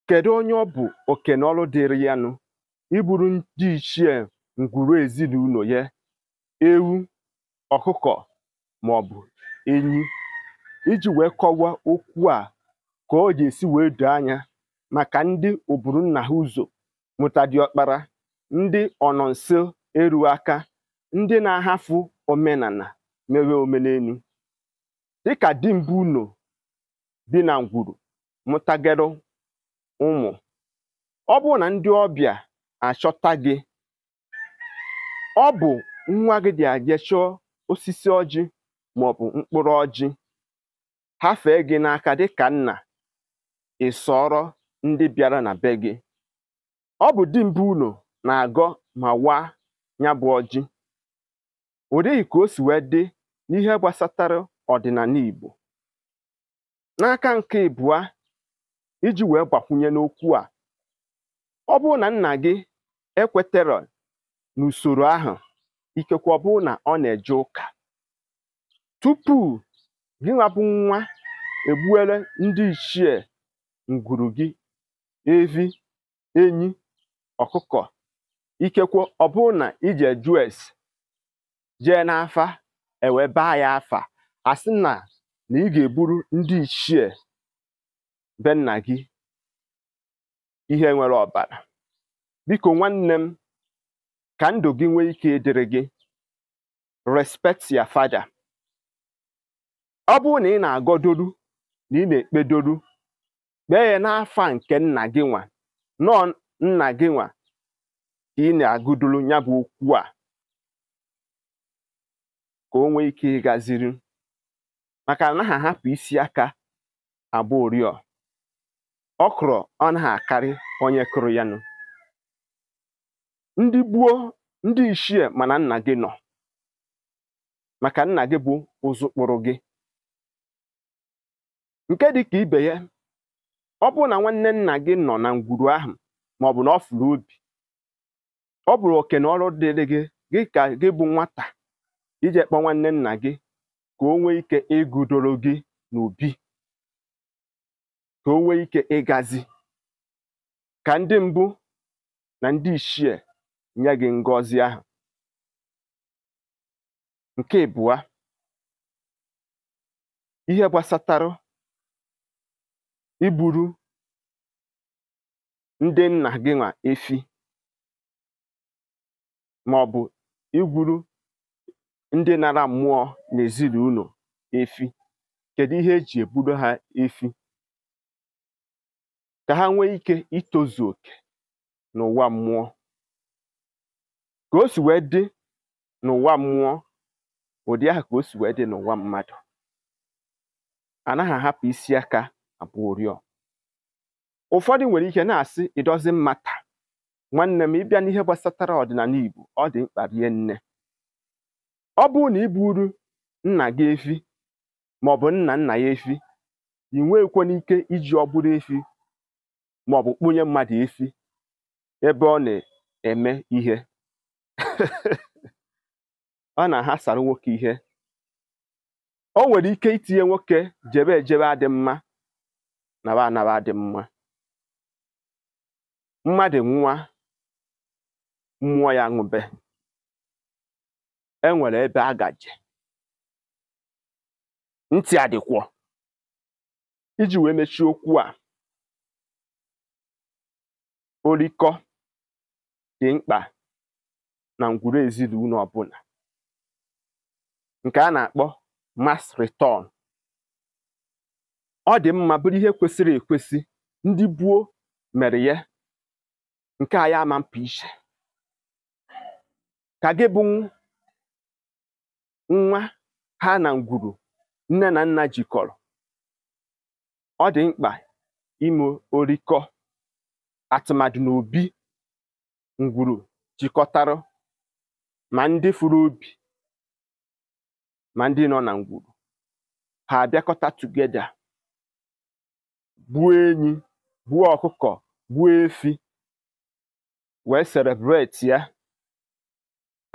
kedu onye ọ bụ oke na ọrụ dịrị ya nụ igburu ndị ichie ngwuru ezinụnọ ya ewu ọkụkọ ma ọ bụ enyi iji wee kọwaa okwu a ka ọ ga-esi wee doo anya maka ndị oburu nna ha ụzọ mụta diọkpara ndị ọnọ nso eru aka ndị na-ahafụ omenana mewe omenenu dịka dimkpa ụnọ bi na ngwuru mụtagere ụmụ ọ bụrụ na ndị ọbịa achọta gị ọ bụ nwa gị dị aje chọọ osisi ọjị maọbụ mkpụrụ ọjị hafee gị n'aka dịka nna ị sọọrọ ndị bịara na be gị ọ bụ dimkpa ụnọ na-agọ ma waa ya bụ ọjị ọ dịghị ka o si wee dị n'ihe gbasatara ọdịnana Igbo n'aka nke ịbụa iji wee gbakwunye n'okwu a ọ bụrụ na nna gị ekweterọ n'usoro ahụ ikekwe ọ bụrụ na ọ na-eje ụka tupu gị nwa bụ nwa egbuere ndị ichie ngwuru gị evi enyi ọkụkọ ikekwe ọ bụrụ na i jee jụọ ese jee n'afa e wee gbaa ya afa a sị na na ị ga-egburu ndị ichie be nna gị ihe nwere ọbara biko nwanne m ka ndụ gị nwee ike ịdịrị gị respect your father ọ bụrụ na ị na-agọdoru na ị na-ekpedoru kpee ya n'afa nke nna gị nwa na ọọ nna gị nwa ka ị na-agọdoru ya bụ okwu a ka o nwee ike ịgaziri maka anaha ahapụ isi aka agba ụrịọ ọkwụrụ anaghị akarị onye kụrụ ya nụ ndị gboo ndị ichie ma na nna gị nọ maka nna gị bụ ụzụ kpụrụ gị nke dị ka ibe ya ọ bụrụ na nwanne nna gị nọ na ngwuru ahụ ma ọ bụ na ọ fụrụ obi ọ bụrụ oke na ọrụ dịrị gị gị ka gị bụ nwata ije kpọ nwanne nna gị ka o nwee ike ịgọdoro gị n'obi ka o nwee ike ịgazi ka ndị mbụ na ndị ichie nye gị ngọzi ahụ nke ịbụa ihe gbasatara igburu ndị nna gị nwa efi ma ọ bụ igburu ndị nara mmụọ n'ezinụlọ efi kedu ihe e ji egburu ha efi ka ha nwee ike itozu oke n'ụwa mmụọ ka o si wee dị n'ụwa mmụọ ụdị ahụ ka o si wee dị n'ụwa mmadụ anaghị ahapụ isi aka agba ụrịọ ụfọdụ nwere ike na-asị it doesn't matter nwanne m ị bịa n'ihe gbasatara ọdịnala Igbo ọ dị mkpa rie nne ọ bụrụ na i gburu nna gị efi maọbụ nna nna ya efi i nweghịkwanụ ike iji ọbụrụ efi maọbụ kpunye mmadụ efi ebe ọ na-eme ihe ọ na-aghasara nwoke ihe o nwere ike itinye nwoke jebe ejebe adị mma naba anaba adị mma mmadụ nwa mmụọ ya ṅụbe e nwere ebe a gaje ntị adịkwọ iji wee mechie okwu a orikọ dị mkpa na ngwuru ezinụlọ ọbụla nke a na-akpọ mass return ọ dị mma bụrụ ihe kwesịrị ekwesị ndị gboo mere ya nke a ya ama mpa iche ka gị bụ nwa ha na ngwuru nne na nna jikọrọ ọ dị mkpa ime orikọ atụmadụ n'obi ngwuru jikọtara ma ndị fụrụ obi ma ndị nọ na ngwuru ha abịakọta together gbuo enyi gbuo ọkụkọ gbuo efi wee celebrate ya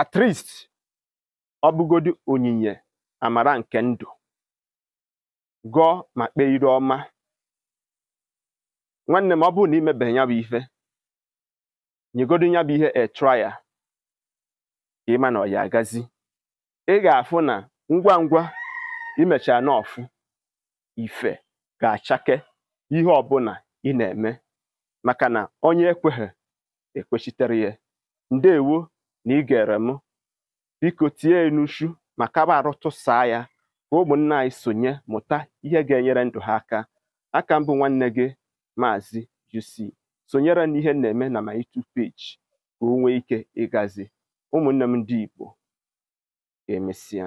at least ọ bụgodu onyinye amara nke ndụ gọọ ma kpee ire ọma nwanne m ọ bụrụ na i mebeghị ya bụ ife nyegodu ya bụ ihe a trial ka ị ma na ọ ya agazi ị ga-afụ na ngwa ngwa i mechara n'ọfụ ife ga-achake ihe ọbụla ị na-eme maka na onye ekweghị ekwechitere ya ndewo na ị gere m biko tinye ya n'uchu ma kaba arụ tụsaa ya ka ụmụnna anyị sonye mụta ihe ga-enyere ndụ ha aka aka m bụ nwanne gị maazị UC sonyere n'ihe na-eme na my YouTube page ka o nwee ike ịgazi ụmụnne m ndị Igbo emesịa